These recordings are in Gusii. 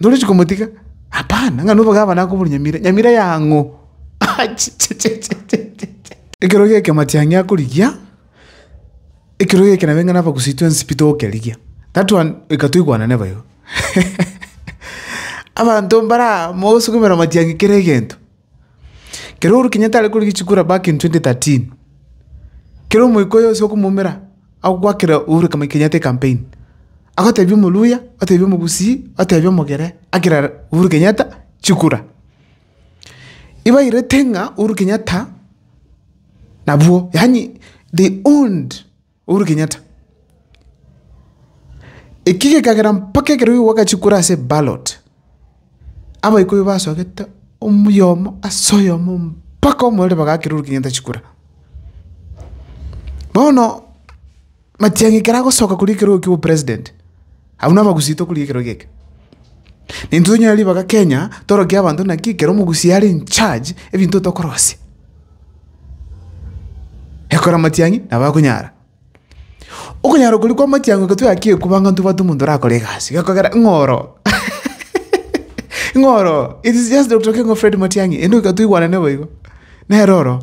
Ntorichi komotiga? Hapana, ng'a nobe gavana akoboria Nyamira, Nyamira y'ang'o? Achichichichichichi! Ekero geke matiang'i akorigia, ekero geke nabe ng'a nabagusie twensi pi togokerigia. That one reka toigwanane bo igo. Abanto mbare aa mogosukumera matiang'i kera egento. Kero Uhuru Kenyatta are korigia chikura back in 2013, kero omoikoyo ase okomoumera agoakera Uhuru Kenyatta ecampaign, agotebia omoluya, otebia omogusii, otebia omogere, akera Uhuru Kenyatta chikura. Ibairete ng'a Uhuru Kenyatta nabwo, yaani they owned. Uhuru Kenyatta. Eki gekagera mpaka ekero rigo gwagachia kora ase ballot, abaikoi basogete omuyomo ase oyomo mpaka omorore bagakera Uhuru Kenyatta chikura. Bono, Matiang'i ekero agosoka koria ekero okia obopresident. Abwo nabagusii tokoria ekero geke. Intwe tonyare ribaga Kenya torokia abanto naki ekero omogusii are in charge ebinto tokorosia. Ekora matiang'i nabo akonyara. Okonyara okoria kwa matiang'i oke toyakire kobua ng'a intwe bato omonto orakore egasi gekogera ng'a oro ng'a oro it is just Doctor King of Fred Matiang'i ere nigo toigwanane boigo nere oro.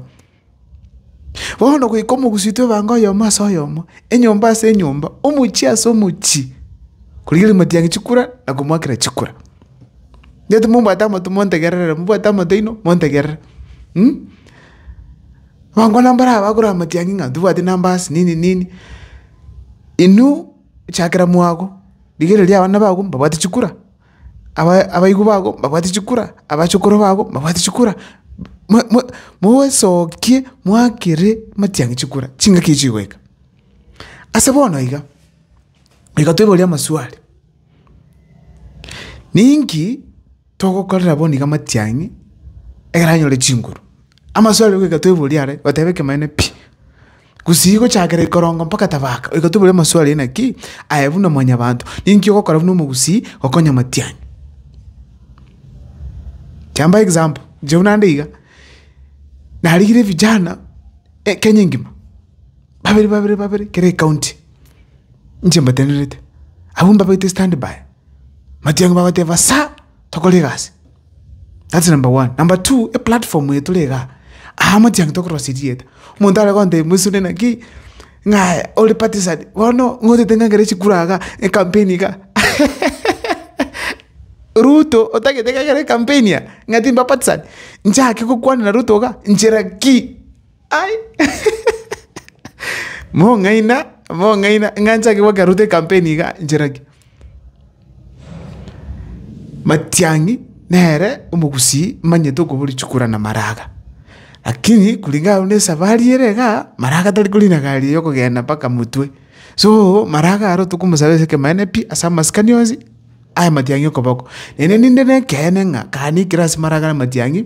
Bono goika omogusii oito ebango oyomo ase oyomo, enyomba ase enyomba, omochie ase omochie, korigereria matiang'i chikura na komoakera chikura. Gete mombwate amato montegerere, mombwate amato aino montegerere, mh. Abango na mbare abakore amatiang'i ng'a ntobwati numbers nini nini, inwe chakera mwago, rigereria abana bago mbabwate chikura, abaigwa bago mbabwate chikura, abachokoro bago mbabwate chikura, mwa- mwa moesokie moakere matiang'i chikura, chingaki echi chigoika. Ase bono iga, reka toiborie amaswali, ninki togokorera bono iga matiang'i ekero anyore chinguru? Amaswali goika toiborie are, goteba ekemaneno pi. Gusii gochakera ikorongo mpaka tabaka, oigatoboria amasu aria inaki aye buna mwanyabanto, ninki ogokora buna omogusii gokonya amatianyi? Kiambae example, inche buna nde iga, narigire vijana Kenya engima, babere babere babere kera ekaunti, inche mbatenerete, abwo mbabaete standby, matiang'i bagoteba sa, tokore egasi. That's number one. Number two, e platform eye tore iga, aa motiangi tokorora chirieta. Omonto are gontebia moisore naki, ng'a ore partisan, bono ng'a otete ng'a ekero chikura iga, ecampaign iga, Ruto otagete ng'a ekero ecampaign aa, ng'a timba partisan, nchake gokwana na Ruto iga, nchera ki? Ai! mong'aina mong'aina ng'a nchake goaka route campaign iga nchera ki? Matiang'i nere omogusii manyete okoboria chikura na maraga, lakini kulingana buna esafari ere igaa, maraga tari kori na gari eye okogenda mpaka motwe. So maraga aro tokomosabera ase ekemanene pi ase amasikani onsi aya matiang'i okoboko. Naende ninde na ekeene ng'a kare naikire ase maraga na matiang'i.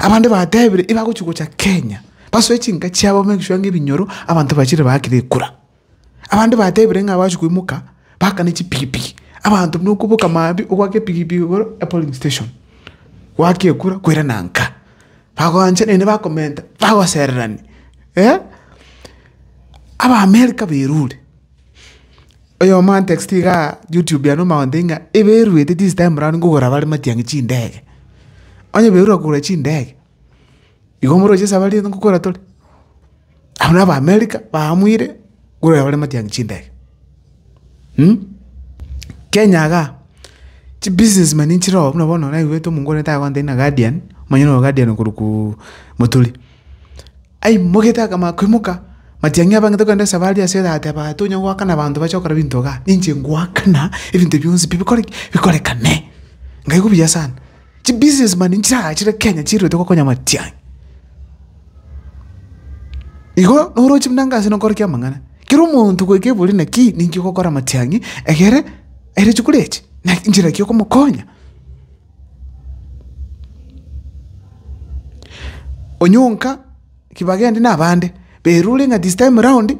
Abande batebire ibagochi gocha Kenya, basoe chinka chiabo bamekisure ng'a ebinyoro abanto bachire baakire ekura. Abande batebire ng'a abachia koimoka bakane chipikipiki, abanto buna okoboka maambia ogwaka epikipiki igoro ya polling station, gwaka ekura kwerana nka. Bagoancha naende bakomenta, bagosererania, eh. Abaamerika bairure. Oyomo antexti iga YouTube yane omogonte ng'a eberuete this time round nkogora bare matiang'i chindege. Onye eberure kogora chindege, igo moroche esabari eye nkogora tore. Abwo na Abaamerika baamwire korwa bare matiang'i chindege. Kenya igaa, chibusiness man nchire oo buna bono naigwete omongorete agotebi ng'a Guardian, omonyene o Guardian okorokwa Moturi. Aimogete akama akoimoka, matiang'i abangete kogenda esaba aria ase eraha, ati, Abaati tonya goakana abanto bache gokora ebinto iga, ninche ngoakana ebinto bionsi pi bikore ki? Bikorekane. Nkaigwa buya sana. Chi business man nchiragachire Kenya chiruete gokonya matiang'i. Igo noroche buna inga ase nokora kia amang'ana, kera omonto goika ebori naki ninki ogokora matiang'i egere aire chikori echi? Naki nchera ki okomokonya? Onyonka ki bagende nabande, berure ng'a this time round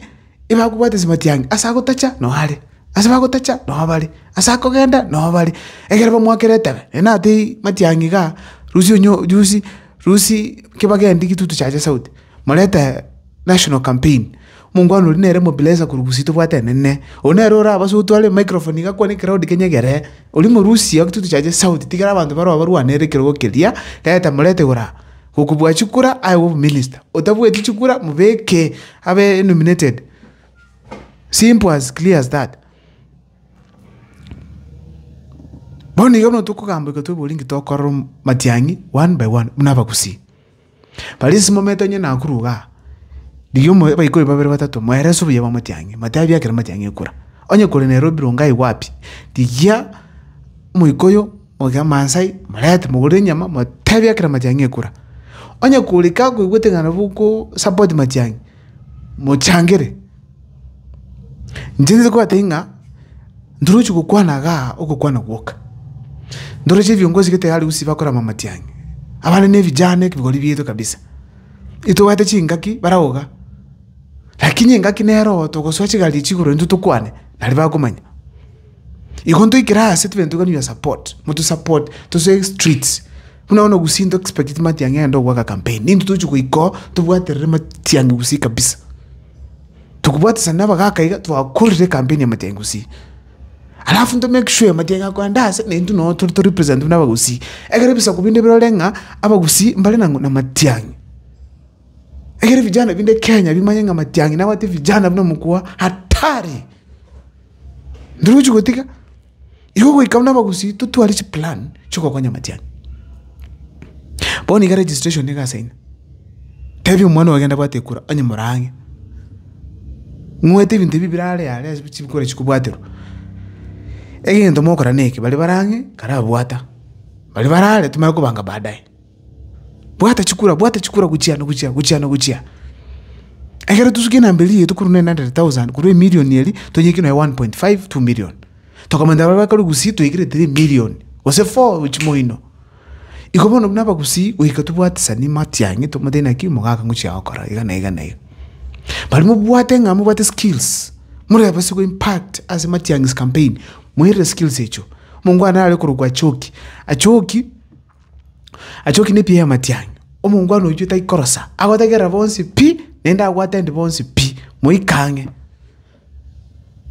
ebakobwate chimatiangi ase agotacha noo are, ase bagotacha noo bare, ase akogenda noo bare, ekero bamoakera etebe naende natebie matiangi igaa, rusia onyo rusi rusi ki bagendi gitutu chiacha sauti morete. National Campaign, Omongwana oria nere mobileza korwa Gusii tobwate enene. Oyo nere ore abaso gotwara emicrophone iga akwane crowd kenyegere. Oria morusi oke totuchache sauti tigere abanto baroo barwanere ekerogo keria reta morete igoro aa. Gokobua chikura aegwe obominister. Otabueti chikura mobeke abe nominated. Simple as clear as that. Bono iga buna tokogamba iga twebori inki tokorora matiang'i one by one buna abagusii. Baria ase mometa onye nakuru iga, rigia omo abaikori babere batato moerese obuya bwa motiang'i, motebie ekero motiang'i ekura. Onye kore nere obironge aye gwapi, rigia omoika oyo omoke amansai, morente mogorere enyama, motebie ekero matiang'i ekura. Onye kore kakoigwete ng'a nabo oko support matiang'i. mochangere. Inche nigo batebi ng'a ntoroche gokwana igaa ogokwana gwoka, ntoroche viongozi gete harusi bakorama matiang'i, abare ne vijana ekebori bieto kabisa, etobwate chingaki bare ao iga, lakini engaki nero oo togosoa chigari echi igoro intwe tokwane nari bakomanya. Igo ntoikere ase tobente tokanywa support, moto support tose streets. Buna bono gusii nto expect matiang'i agende goaka campaign, ninto tochi goika oo tobwaterere matiang'i gusii kabisa. Tokobwatesana na abagaka iga twakorire campaign ya matiang'i gusii. Alafu nto make sure matiang'i akoenda ase na intwe noo tore to represent buna abagusii. Ekero ebisaku binde birore ng'a abagusii mbare na matiang'i. Ekere vijana binde Kenya bimanye ng'a Matiang'i nabwate vijana buna mokubua hatari. Ndoruchi gotiga, igo goika buna abagusii totware chiplan chigokonya Matiang'i. Bono iga registration niga ase ime, tebi omwana oyo genda bwate kura onye more ang'e. Ng'wete ebinto ebi bire are yare ase chikura chikobwaterwa. Egento mokora neke, bari bare ang'e kara abwata, bari bare are tomanye kobanga baadaye. Bwata chikura, bwata chikura gochia na gochia, gochia na gochia. Ekero tosukia enamba eria yaito korwa nine hundred thousand korwa emillion eria, tonyekie nonya one point five, two million. Tokomenta baria bakorwa Gusii toikire three million, gose four chimo ino. Iko bono buna Abagusii goika tobwatisani matiang'i tomotebi naki omogaka ngochia gokora iga na iga na iga. Baria mobwate ng'a mobwate skills, morebe ase go impact ase matiang'isi campaign, moirire skills echio. Omonto kwane are korokwa Achooki, Achooki. Achoki nepi y'amatiang'e, omongwana oyio taikorosa, agotegerera bonsi pi, naende abwate endi bonsi pi. Moika ang'e,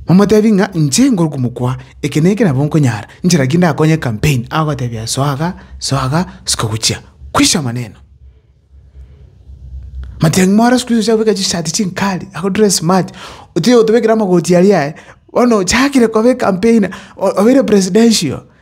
momotebi ng'a inche ngoro komokwa eke na eke nabo nkonyara, inche naki ndakonye campaign, agotebia soa iga, soa iga, siko gochia. Kwisha amaneno. Matiang'i more siku hizi ochabeka chisati chinkali, ago dress smart, otiga gotobekera amagoti aria aye, bono ochakire koba ecampaigner, o- obeire presidential.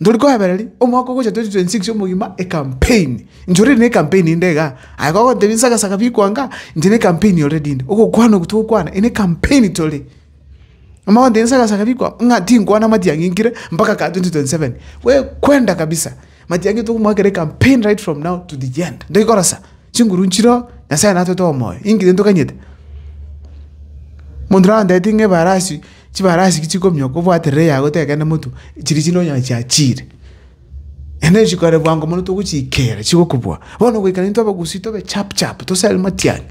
Ntori koebereria, omwaka ogocha 2026 omogima ecampaign, inche already ne campaign inde igaa, aye kogontebia nsaga saga bikwanga, inche ne campaign already inde, ogokwana oku togokwana inde campaign tore. Amagontebia nsaga saga bikwa ng'a tinkwana matiang'i nkire mpaka kaa 2027, we kwenda kabisa, matiang'i tokomoakera ecampaign right from now to the end, ntoki korosa, chinguru nchiroo, Nyasaye natwete omoyo, inkire ntoganyete. Monto nantebeti ng'a ebarasi. Chibarasi ki chikomioka obwaterere yago tekegenda motu chiria chinde onyore chiachiire. Naende chikore bwango mono togochiikera chigokobua. Bono goikera intwe abagusii tobe chap chap tosare matiang'i.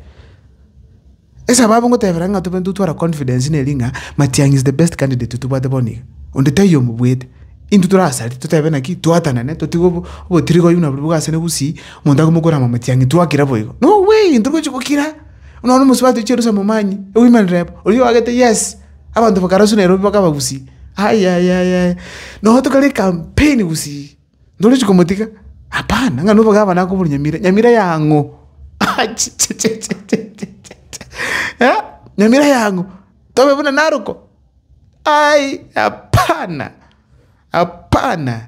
Esababu ngotebera ng'a tobe intwe tware confidence neri ng'a matiang'i is the best candidate tobwate bono iga. Onde taiyo omobwete. Intwe torasari totebe naki twatanane totige obo obotirika oyio buna boria bogasiane gusii omonto akomokorama matiang'i twakira boigo. No way! Ntogochi gokira. Nonya nomosubati ochia Yerusalemu omanyie, oimane reba, oyio oagete yes, abanto bakaraswa Nairobi mpaka abagusii, ayayaya, nonya tokore ekampeni gusii, ntorichi komotiga, hapana, ng'a noboke abana akobori nyamira, nyamira ya ang'o? achichichichichichichi, nyamira ya ang'o? Tobe buna naroko? Aii hapana, hapana.